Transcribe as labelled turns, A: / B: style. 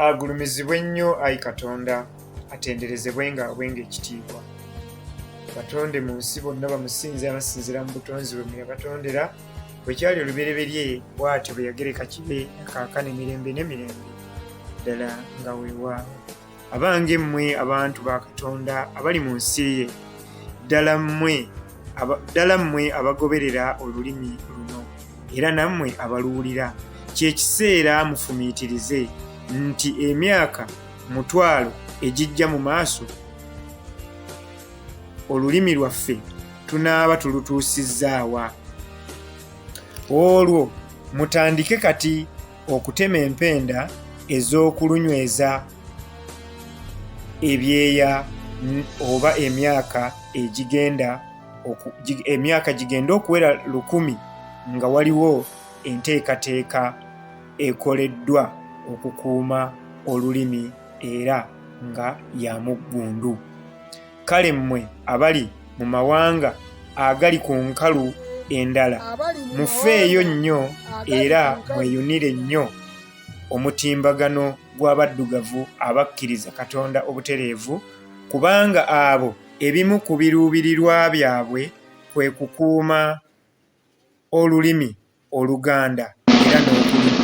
A: agulumizibwe nnyo ayi katonda atenderezebwe nga abwenga ekitiibwa batonde mu nsi bonna bamusinze abasinzira mu butonzi bwe muyabatondera bwekyali olubereberye bwatyo bwe yagereka kibe akaakana emirembe n'emirembe ddala nga weewaawo abange mmwe abantu ba katonda abali mu nsi ye ddala mmwe ddala mmwe abagoberera olulimi luno era nammwe abaluwulira kyekiseera mufumiitirize nti emyaka mutwalo egijja mu maaso olulimi lwaffe tunaaba tulutuusizzaawa olwo mutandike kati okutema empenda ez'okulunyweza ebyeya oba emyaka egigenda emyaka gigenda okuwera lukumi nga waliwo enteekateeka ekoleddwa okukuuma olulimi era nga ya muggundu. kale mmwe abali mu mawanga agali ku nkalu endala mufeeyo nnyo era mweyunire nnyo omutimbagano gw'abaddugavu abakkiriza katonda obutereevu kubanga abo ebimu ku biruubirirwa byabwe kwe kukuuma olulimi oluganda era n'okulima